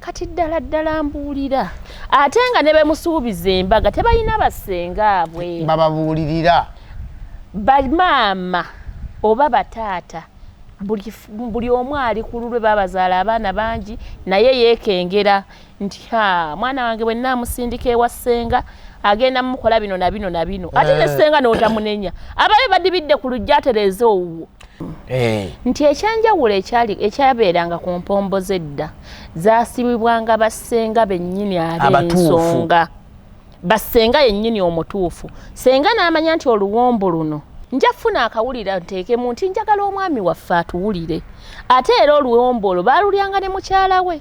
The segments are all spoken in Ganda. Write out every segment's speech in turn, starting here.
kati ddala ddala mbuulira ate nga ne bemusuubiza embaga tebalina basenga abwe bababuulirira bamaama oba bataata buli omu ali ku lulwe babazaala abaana bangi naye yeekengera nti ha mwana wange bwe naamusindika ewa ssenga agenda mukola bino na bino na bino ate ne eh. ssenga n'otamunenya ababe badibidde ku lujja atereeza owuwo Eh. nti ekyenjawulo ekyali ekyabeeranga ku mpombo z'edda zaasibibwanga bassenga bennyini ab'ensonga bassenga yennyini omutuufu senga n'amanya nti oluwombo luno nja funa akawulira nteekemu nti njagala omwami waffe atuwulire ate era oluwombo olwo baalulyanga ne mukyala we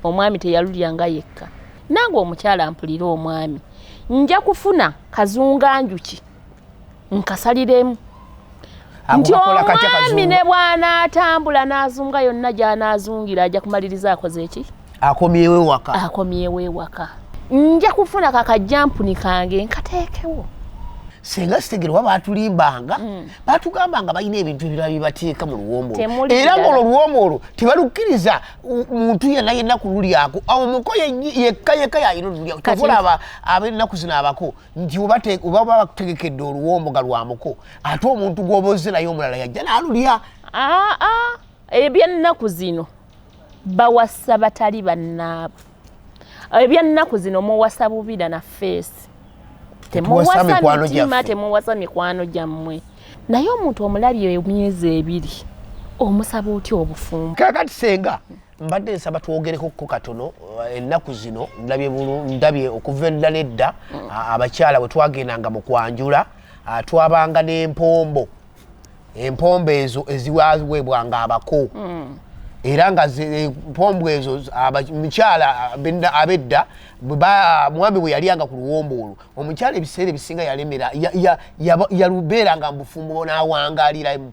omwami teyalulyanga yekka nange omukyala mpulire omwami nja kufuna kazunganjuki nkasaliremu nti omwami ne bw'anaatambula n'azunga yonna gy'anaazungira ajja kumaliriza akoze eki akomyewo ewaka akomyewo ewaka nja kufuna kakajjampuni kange nkateekewo senga sitegere oba batulimbanga mm. batugamba nga balina ebintu ebirala byebateeka mu luwombo era ngaolwo oluwombo olwo tebalukkiriza muntu yena yenna kululyako awo muko yekka yekka yayina olulyako tovolaba abennaku zino abako nti oba oba bakutegekedde oluwomboga lwa muko ate omuntu gw'oba ozze naye omulala yajja n'alulya aa ah, ah. ebyennaku zino bawasa batali bannaabwe ebyennaku zino muwasa bubira na feesi temuwasa mitima temuwasa mikwano gyammwe naye omuntu omulabye emyezi ebiri omusaba otya obufumbo kakati senga mbadde nsaba twogereko ko katono eh, ennaku zino ndabye ndabye okuva edda nedda mm. abakyala bwe twagendanga mu kwanjula twabanga n'empombo empombo ezo eziwaweebwanga abako mm. era nga empombo eh, ezo mukyala abedda mwami bwe yaliyanga ku luwombo olwo omukyala ebiseera ebisinga yalemera yalubeeranga mubufumbo n'awangaliramu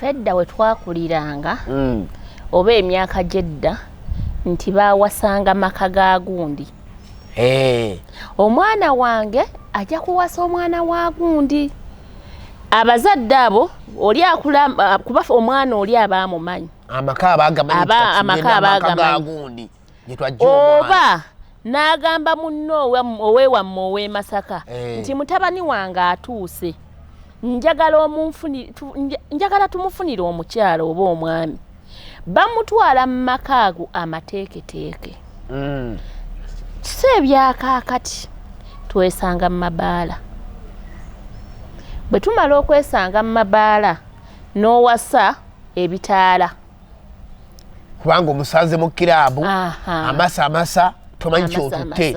fedda we twakuliranga mm. oba emyaka gyedda nti bawasanga maka ga gundi hey. Eh. omwana wange ajja kuwasa omwana wa gundi abazadde abo oli akula kuba omwana oli aba amumanyi amaka aba agamanyigundi oba n'agamba munno owewamme ow'emasaka eh. nti mutabani wange atuuse njagala omunfuni njagala tumufunire omukyala oba omwami bamutwala mu maka ago amateeketeeke mm. si ebyakaakati twesanga mu mabaala bwe tumala okwesanga mu mabaala n'owasa ebitaala kubanga omusanze mu kiraabu amasa amasa tomanyi kyotutte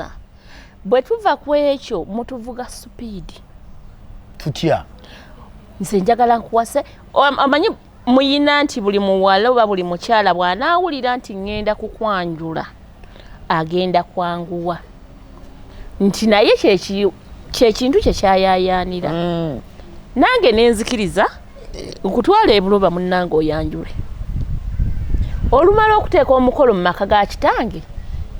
bwe tuva ku ekyo mutuvuga supiidi tutya nze njagala nkuwase amanyi muyina nti buli muwala oba buli mukyala bw'anaawulira nti ŋŋenda kukwanjula agenda kwanguwa nti naye kyekintu kye kyayayaanira mm. nange nenzikiriza okutwala ebuloba munange oyanjule olumala okuteeka omukolo mu maka ga kitange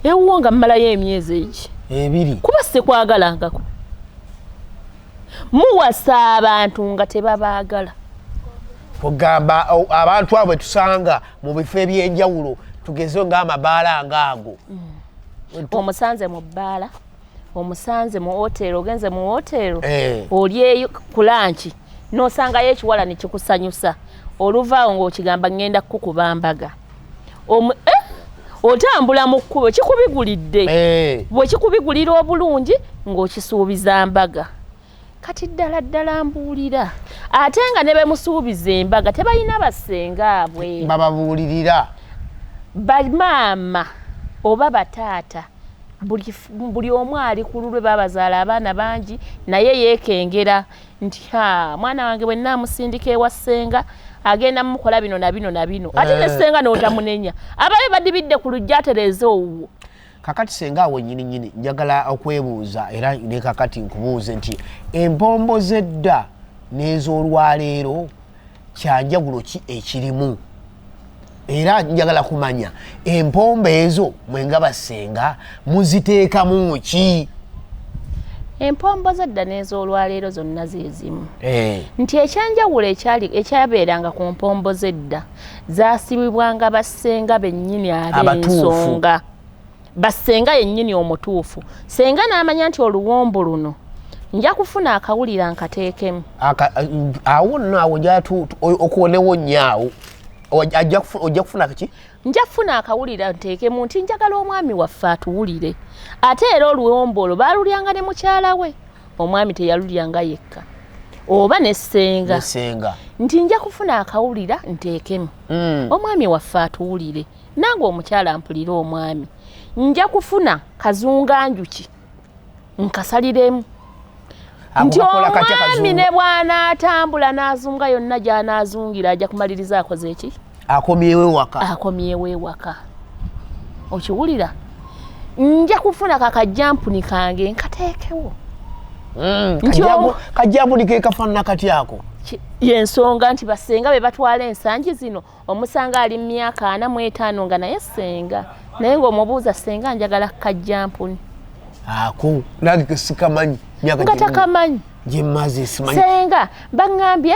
ewuwo nga mmalayo emyezi egi ebiri kuba sikwagalangako muwasa abantu nga tebabaagala ogamba abantu abo tusanga mu bifo ebyenjawulo tugeze nga amabaala nga ago mm. omusanze mu bbaala omusanze mu woteero ogenze mu woteero eh. olyeyo ku lanki n'osangayo ekiwala ne kikusanyusa oluvaawo ng'okigamba ŋŋenda kukukuba mbaga eh, otambula mu kkubo kikubigulidde eh. bwe kikubigulira obulungi ng'okisuubiza mbaga kati ddala ddala mbuulira ate nga ne bemusuubiza embaga tebalina basenga abwe bababuulirira bamaama oba bataata buli omu ali ku lulwe babazaala abaana bangi naye yeekengera nti ha mwana wange bwe naamusindika ewa ssenga agenda mukola bino na bino na bino ate ne eh. ssenga n'otamunenya ababe badibidde ku lujja atereeza owuwo kakati senga awo nyini nyini njagala okwebuuza era ne kakati nkubuuze nti empombo zedda n'ezolwaleero kyanjawulo ki ekirimu era njagala kumanya empombo ezo mwenga basenga muziteekamu ki empombo zedda n'ezolwaleero zonna zezimu eh. nti ekyanjawulo ekyabeeranga ku mpombo zedda zaasibibwanga bassenga bennyini ab'ensonga bassenga yennyini omutuufu senga n'amanya nti oluwombo luno nja kufuna akawulira nkateekemu awo nno awo okuwonewo nnyo awo ojja kufuna kaki nja kufuna akawulira nteekemu nti njagala omwami waffe atuwulire ate era oluwombo olwo baalulyanga ne mukyala we omwami teyalulya nga yekka oba ne ssenga nti nja kufuna akawulira nteekemu mm. omwami waffe atuwulire nange omukyala ampulire omwami nja kufuna kazunga njuki nkasaliremu nti omwami ne bw'anaatambula n'azunga yonna gy'anaazungira ajja kumaliriza akoze eki akomyewo ewaka akomyewo ewaka okiwulira nja kufuna kakajampuni kange nkateekewo mm, kajampuni kekafanana kati ako yensonga nti basenga be batwala ensangi zino omusanga ali mumyaka ana mu etaano nga naye senga naye ngaomubuuza senga njagala kajampuni ako nange kesikamanyi nga takamanyi senga baŋambye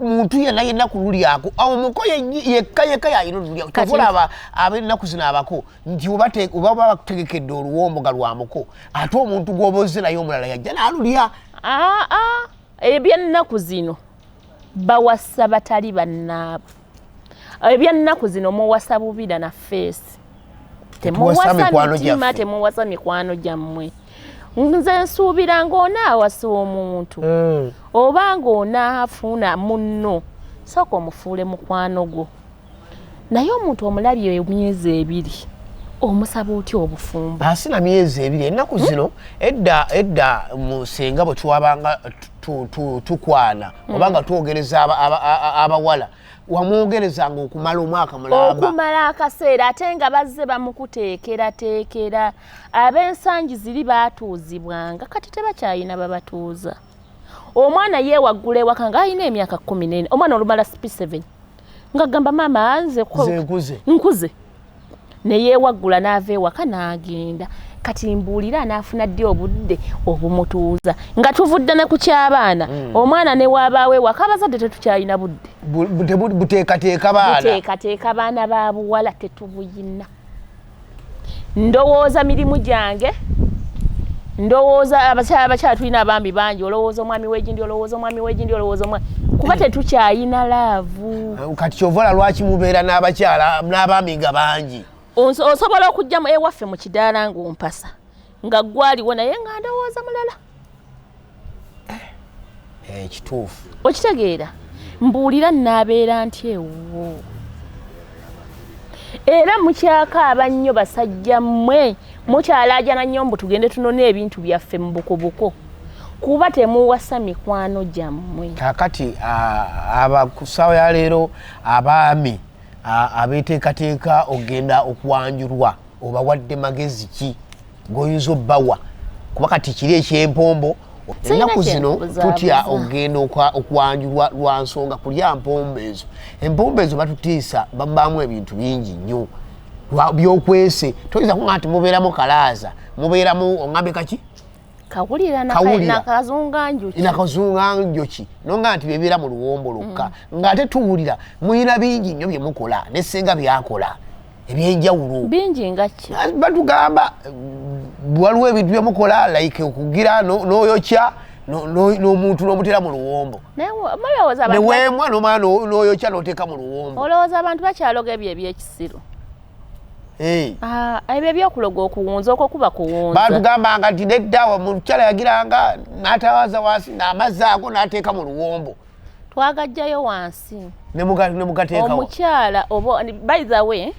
muntu yena yena kululyako awo muko yekka yekka yayina olulyako kyovulaba abenaku zino abako nti oba bakutegekedde oluwomboga lwa muko ate omuntu gwoba ozze naye omulala yajja nalulya ebyennaku zino bawasa batali bannaabwe ebyannaku zino muwasa bubira na feesi temuwasa mitima temuwasa mikwano gyammwe nze nsuubira ng'ona awasa omuntu hmm. oba ng'onaafuuna munno sooka omufuule mukwano gwo naye omuntu omulabye emyezi ebiri omusaba otya obufumbo asina myezi ebiri ennaku zino edda edda mu senga bwe twabanga tukwana hmm. oba nga twogereza abawala wamwogereza nga okumala omwaka mulaaokumala akaseera ate nga bazze bamukuteekerateekera ab'ensangi ziri baatuuzibwanga kati tebakyalina babatuuza omwana yeewaggula ewaka nga alina emyaka kumi nene omwana olumala sp7 nga gamba maama nze nkuze nkuze neyewaggula n'ava ewaka n'agenda kati mbuulira anaafuna ddi obudde obumutuuza nga tuvudde ne ku ky'abaana mm. omwana ne waabaawo ewaka abazadde tetukyalina budde buteekateeka baana baana ba buwala tetubuyina ndowooza mirimu gyange ndowooza abakyala abakyala tulina abambi bangi olowooza omwami wegindi olowooza omwami wegindi olowooza omwami kuba eh. tetukyayina laavu eh, kati kyovola lwaki mubeera n'abakyala n'abambi nga bangi osobola okujjamu ewaffe mu kidaala ng'ompasa nga gwaliwo naye nga ndowooza mulala ekituufu eh, okitegeera mbuulira naabeera nti ewuwo era mukyaka abannyo basajja mmwe mukyalaajana nnyo mbu tugende tunone ebintu byaffe mu bukubuko kuba temuwasa mikwano gyammwe kakati abakusawo ya leero abaami abeteekateeka okugenda okwanjulwa obawadde magezi ki goyinza obbawa kuba kati kiri ekyempombo ennaku zino tutya okugenda okwanjulwa lwa nsonga kulya mpombo ezo empombo ezo batutiisa babaamu ebintu bingi nnyo byokwese toyinza kuga nti mubeeramu kalaaza mubeeramu oŋambe kaki kawulira nakazunganjuki nakazunganjuki nonga nti bebeera mu luwombo lukka mm. ng'ate tuwulira muyina bingi nnyo bye mukola ne singa byakola ebyenjawulo bingi nga ki ah, batugamba waliwo ebintu bye mukola like okugira n'oyokya n'omuntu n'omuteera mu luwombo neweemwa nomala n'oyokya n'oteeka mu luwombo olowooza abantu bakyaloga ebyo ebyekisiru Eh. Ah, ebyo ebyokuloga okuwunza okwo kuba kuwunza batugambanga nti nedda omukyala yagiranga natawaza wansi namazzi ago nateeka mu luwombo twagajjayo wansi omukyala oba by the way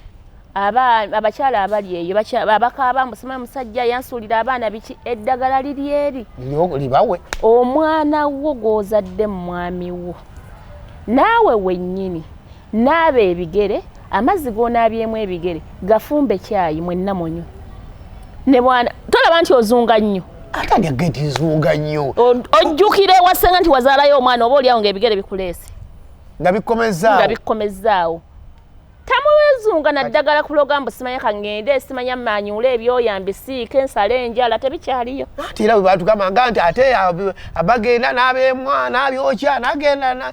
abakyala abali eyo abakaaba mbusima musajja yansuulira abaana biki eddagala liri eri libawe omwana wo gwozadde mu mwami wo naawe wennyini naaba ebigere amazzi g'onaabyemu ebigere gafumbe kyayi mwenna munywe ne bwana tolaba nti ozunga nnyo atali agenti nzunga nnyo ojjukira ewasenga nti wazaalayo omwana oba olyawo ngaebigere bikuleese nga bikkomezaawo nga bikkomezaawo tamwezunga naddagala kuloga mbu simanya kaŋŋende simanya manyuula ebyoya mbisiike nsale enjala tebikyaliyo ati era bwe batugamba nga nti ate abagenda n'abemwa n'abyokya nagenda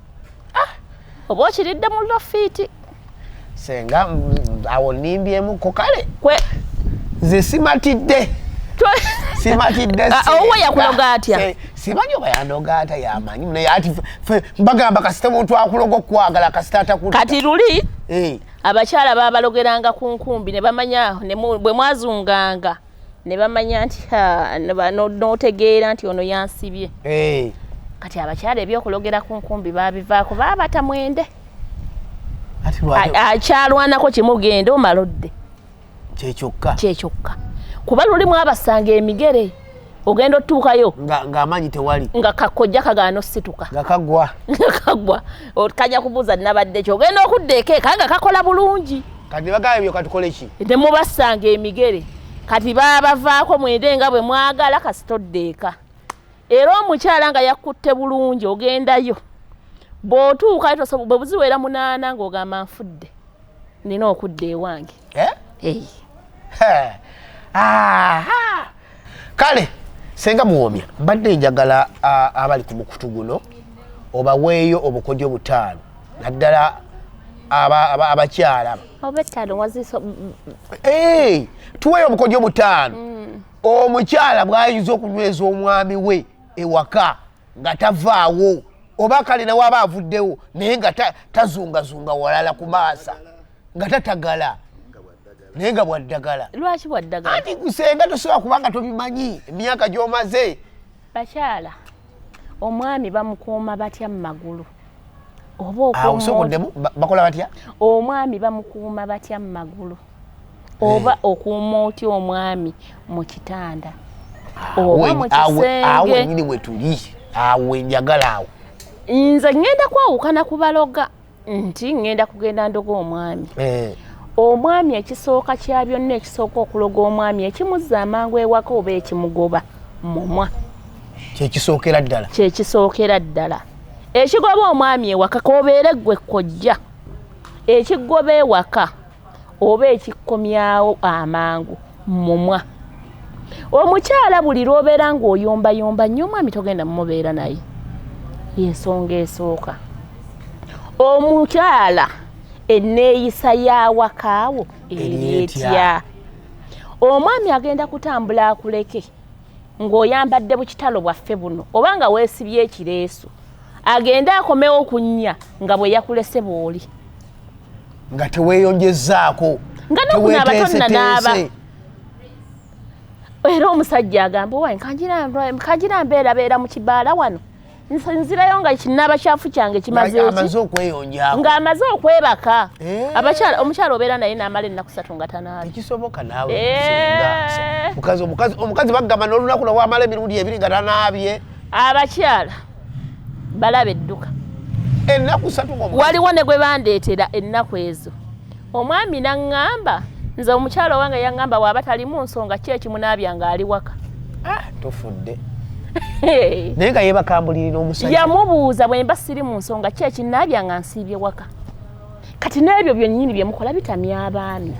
ah, oba okiridde mu lofiiti senga awo nimbyemu ko kale nze simatidde simatidde ah, ah, owe yakuloga atya simanyi oba yandoga ata yamanyi naye ati bagamba kasita omuntu akuloga okukwagala kasita atakula kati luli eh. abakyala babalogeranga ku nkumbi ne bamanya bwe mwazunganga ne bamanya nti n'otegeera nti ono yansibye eh. kati abakyala ebyokulogera ku nkumbi babivaako baabata mwende akyalwanako kimugenda omalodde kyekyokka kyekyokka kuba lulimu abasanga emigere ogenda otuukayo ng'amaanyi tewali nga kakojja kagaana osituka nga kagwa nga kagwa kajja kubuuza nabadde kyo ogenda okudda ekeeka nga kakola bulungi kati nebagamba ebyo katukole ki temubasanga emigere kati babavaako mwende nga bwe mwagala kasitodde eka era omukyala nga yakkutte bulungi ogendayo bw'otuuka bwe buziwera munaana ng'ogamba nfudde nina okudda ewange eh? kale senga muwomya mbadde njagala abali ku mukutu guno obaweeyo obukodyo butaano naddala abakyala tuweeyo obukodyo butaano mm. omukyala bwayinza okunyweza omwami we ewaka nga tavaawo oba kale newaba avuddewo naye nga tazungazunga walala ku maasa nga tatagala naye nga bwaddagala lwaki bwaddagala anti gusenga tosobola kubanga tobimanyi emyaka gyomaze bakyala omwami bamukuuma batya mu magulu oba okusokoddemu bakola batya omwami bamukuuma batya mu magulu eh. oba okuuma otya omwami mu kitanda ah, oba mu kisengeawenyini wetuli awo enjagala awo nze ŋŋenda kwawukana ku baloga nti ŋŋenda kugenda ndoga omwami eh. omwami ekisooka kya byonna ekisooka okuloga omwami ekimuzza amangu ewaka oba ekimugoba mumwa kyekisookera ddala kyekisookera ddala ekigoba omwami ewaka kobeere ggwe kojja ekigoba ewaka oba ekikkomyawo amangu mumwa omukyala buli lwobeera ng'oyombayomba nnyo omwami togenda mumubeera naye yensonga esooka omukyala enneeyisa y'awakaawo eri etya omwami agenda kutambula akuleke ng'oyambadde bukitalo bwaffe buno oba nga weesibye ekireesu agende akomewo kunnya nga bwe yakulese bw'oli nga teweeyonjezaako nga nokunaaba tonnanaaba era omusajja agamba owaye kangira mbeerabeera mu kibaala wano nzirayo nga kinaba kyafu kyange kimazeamaze okweyonja nga amaze okwebaka eh. abakyala omukyala obeera naye namala ennaku satu nga tanaabyekisoboka naawe eh. omukazi bagamba nolunaku lwewamala emirundi ebiri nga tanaabye abakyala balaba edduka ennaku satu waliwo ne gwe bandeetera ennaku ezo Omwami n'aŋŋamba, nze omukyala owange yaŋŋamba bw'aba talimu nsonga ki ekimunaabya ng'ali waka. Ah, tufudde. Naye nga yeebakambulirira omusajja. Yamubuuza bwe mba siri mu nsonga ki ekinnaabya nga nsiibye waka. Kati n'ebyo byennyini bye mukola bitamya abaami.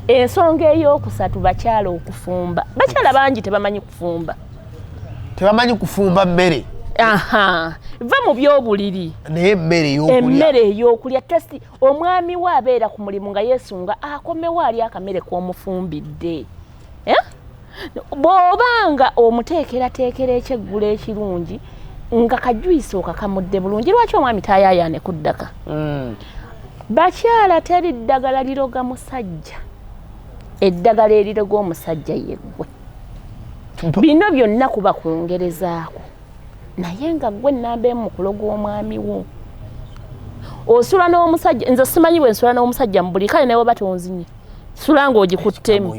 Ensonga ey'okusatu bakyala okufumba. Bakyala bangi tebamanyi kufumba. Tebamanyi kufumba mmere. Aha. Va mu by'obuliri. Naye emmere ey'okulya. Emmere ey'okulya testi. omwami we abeera ku mulimu nga yesunga akomewo ali akamere k'omufumbidde eh? bw'oba nga omuteekerateekera ekyeggulo ekirungi nga kajuyisa okakamudde bulungi lwaki omwami tayayaane ku ddaka mm. bakyala teri ddagala liroga musajja eddagala eriroga omusajja yeggwe bino byonna kuba kwongerezaako naye nga gwe namba emu mukulo gw'omwami wo osula n'omusajja nze simanyi bwe nsula n'omusajja mu buli kale nawe oba tonzinye sula ng'ogikuttemu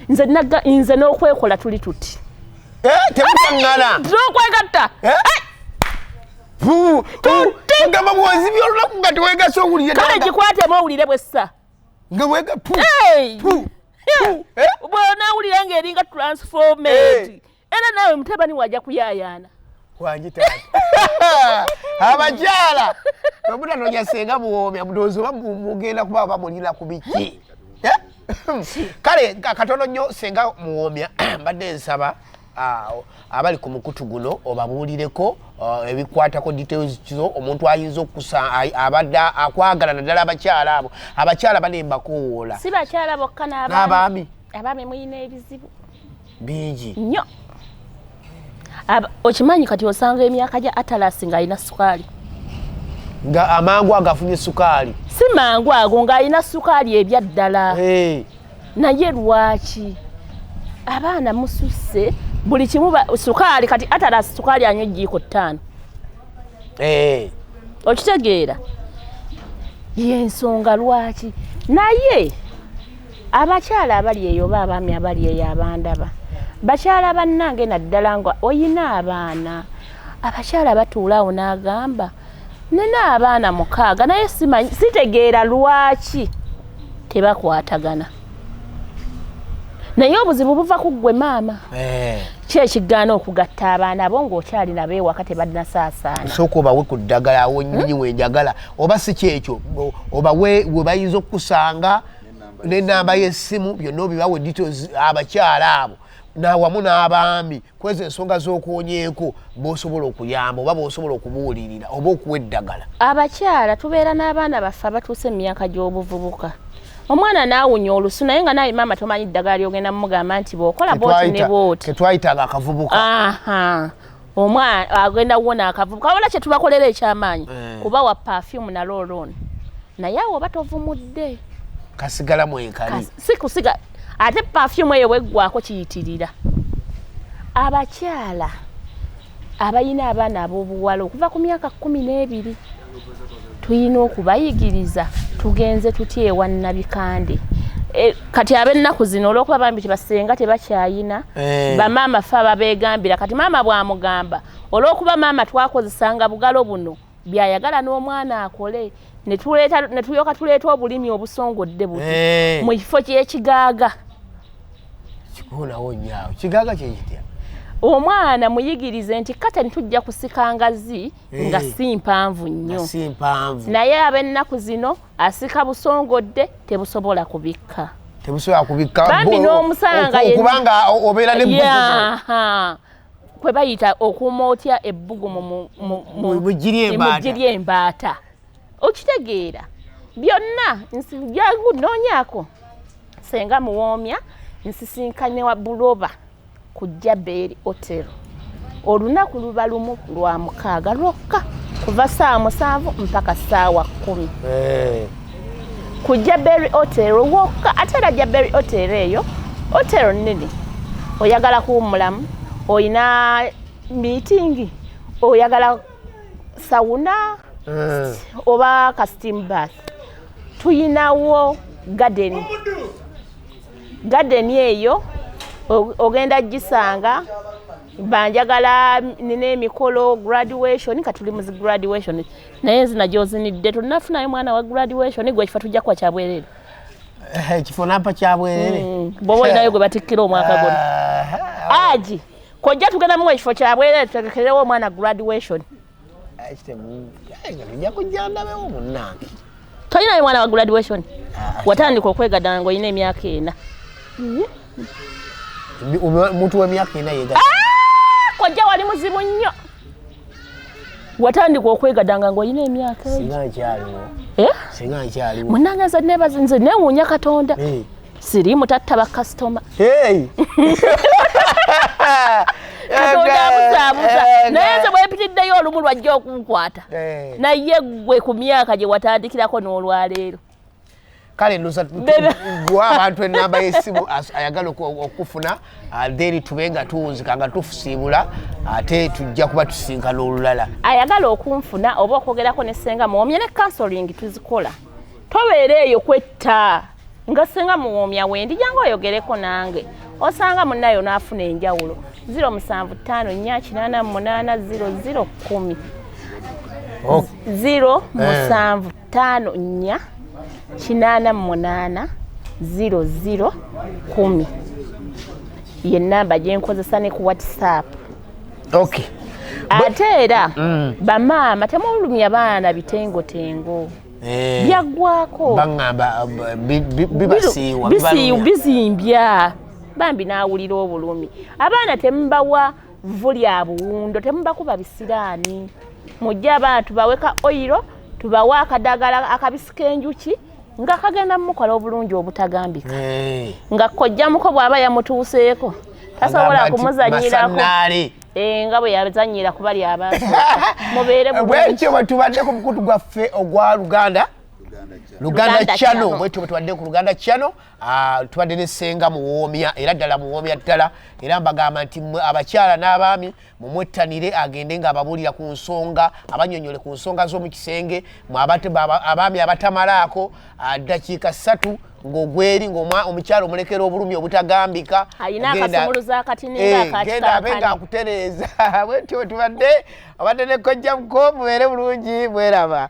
nze naga nze n'okwekola tuli tuti eh, temuangana okwegatta eh? eh? ogamba bwozibya olunaku nga tewegasa owulire kale gikwatemu owulire bwessa nga wega eh? bwonawulira nga eringa transformed eh. era naawe mutabani waja kuyayaana abakyala bwemunanonya senga buwoomya mudoozi oba mugenda kuba bamulina ku biki eh? kale katono nnyo senga muwoomya mbadde nsaba Ah, abali ku mukutu guno obabuulireko ah, ebikwatako details kizo omuntu ayinza okusa abadde akwagala naddala abakyala abo abakyala bane mbakowoola si bakyala bokka n'abaami abaami mulina ebizibu bingi nnyo okimanyi kati osanga emyaka gya atalasi ng'alina sukaali nga amangu agafunye sukaali si mangu ago ng'alina sukaali ebyaddala naye lwaki abaana mususse buli kimu sukaali kati atala sukaali anywa ejjiiko ttaano eh. okitegeera yensonga lwaki naye abakyala abali eyo oba abaami abali eyo abandaba bakyala bannange naddala nga oyina abaana abakyala batuulaawo n'agamba nina abaana mukaaga naye simanyi sitegeera lwaki tebakwatagana naye obuzibu buva ku ggwe maama eh. ki ekigaana okugatta abaana bo ng'okyali nabo ewaka tebadinasaasaana sooka obawe ku ddagala awo nyinyi hmm? wenjagala oba si kyekyo obawe we bayinza okukusanga n'ennamba y'essimu byonna obibawe details abakyala abo nawamu n'abaami kwezo ensonga z'okuwonyeeko b'osobola okuyamba oba b'osobola okubuulirira oba okuwa eddagala abakyala tubeera n'abaana baffe abatuuse mu myaka gy'obuvubuka omwana nawunya olusu naye nga naye maama tomanyi ddagala lyogenda mumugamba nti bwokola boti ne boti ketwayitanga akavubuka omwana agenda kuwona akavubuka wabona kyetubakolera ekyamaanyi eh. kuba wa perfume nalolon naye awo oba tovumudde kasigala mwekali si kusiga ate pafyumu eyo bweggwako kiyitirira abakyala abalina abaana ab'obuwala okuva ku myaka kumi n'ebiri tulina okubayigiriza tugenze tutya ewa nnabikande e, kati ab'ennaku zino olw'okuba bambi tibasenga tebakyayina eh. bamaama fe ababegambira kati maama bwamugamba olw'okuba maama twakozesanga bugalo buno byayagala n'omwana akole ne tulyoka tuleeta obulimi obusongodde buti eh. mu kifo ky'ekigaaga kikoonawo nyaawo kigaaga kyekitya omwana muyigirize nti katani tujja kusika ngazi eh. nga si mpanvu nnyo naye ab'ennaku zino asika busongodde tebusobola kubikka tebusobola kubikka bambi n'omusanga kubanga obeera ne kwe bayita okuuma otya ebbugumu mugiri embaata okitegeera byonna nsijangu noonyako senga muwoomya nsisinkanye wa buloba ku jabeeri otero olunaku luba lumu lwa mukaaga lwokka kuva saawa musanvu mpaka saawa kkumi eh. ku jaberi hotel wokka ate era jaberi hotel eyo hotel nene oyagala kuwummulamu olina miitingi oyagala sawuna eh. oba ka steam bath tuyinawo gadeni gadeni eyo ogenda gisanga banjagala nina emikolo graduation katuli muzi graduation naye enzina gyozinidde tolinafunayo mwana wa graduation gwe ekifa tujja kuwa kyabwerere eh, ekifo nampa kyabwerere hmm, bwoba olinayo gwe batikkira omwaka guno ah, aji kojja tugenda mu ekifo kyabwerere tutegekerewo omwana graduation tolinayo mwana wa graduation ah, watandika okwegadanga ngaolina emyaka ena omuntu wemyaka ena yega ah, kojja wali muzibu nnyo watandika okwegadanga ngaolina emyaka munange nze nebazi nze newuunya katonda eh. siri mutatta bakasitoma katonda abuzaabuza naye nze bwepitiddeyo olumu lwajja okunkwata eh. naye gwe ku myaka gye watandikirako n'olwaleero kale nozagwa abantu enamba yesimu ayagala okufuna uh, then tube nga tuwunzika nga tufusiibula ate tujja kuba tusinkana olulala ayagala okunfuna oba okwogerako ne senga muwomye ne kansoling tuzikola tobeera eyo kwetta nga senga muwomya wendi jangu oyogereko nange osanga munayo nafuna enjawulo 07588800 0 musanvu eh. taano nnya kinaana mu munaana ziro ziro kumi ye namba gye nkozesa ne ku whatsapp ok ate era mm. bamaama temulumya baana bitengotengo Eh, byaggwako baŋamba bibasiiwa bizimbya bambi n'awulira obulumi abaana temubawa vvu lya buwundo temubakuba bisiraani mujje abantu baweka oyiro tubawe akadagala akabisi k'enjuki nga kagenda mukola obulungi obutagambika eh. nga kojjamuko bw'aba yamutuuseeko tasobola kumuzanyirako eh, nga bwe yazanyira kuba lyabantu mubeere bwekyo bwe tubadde ku mukutu gwaffe ogwa luganda luganda chano bwetyo bwetubadde ku luganda chano Ah, tubadde ne senga muwoomya era ddala muwoomya ddala era mbagamba nti mwe abakyala n'abaami mumwettanire agende ng'ababuulira ku nsonga abanyonyole ku nsonga z'omu kisenge abaami abatamalaako ah, ddakiika ssatu ng'ogweri ng'omukyala omulekera obulumi obutagambika genda eh, abe ng'akutereeza bwetyo tubadde obadde ne kojja muko mubeere bulungi mweraba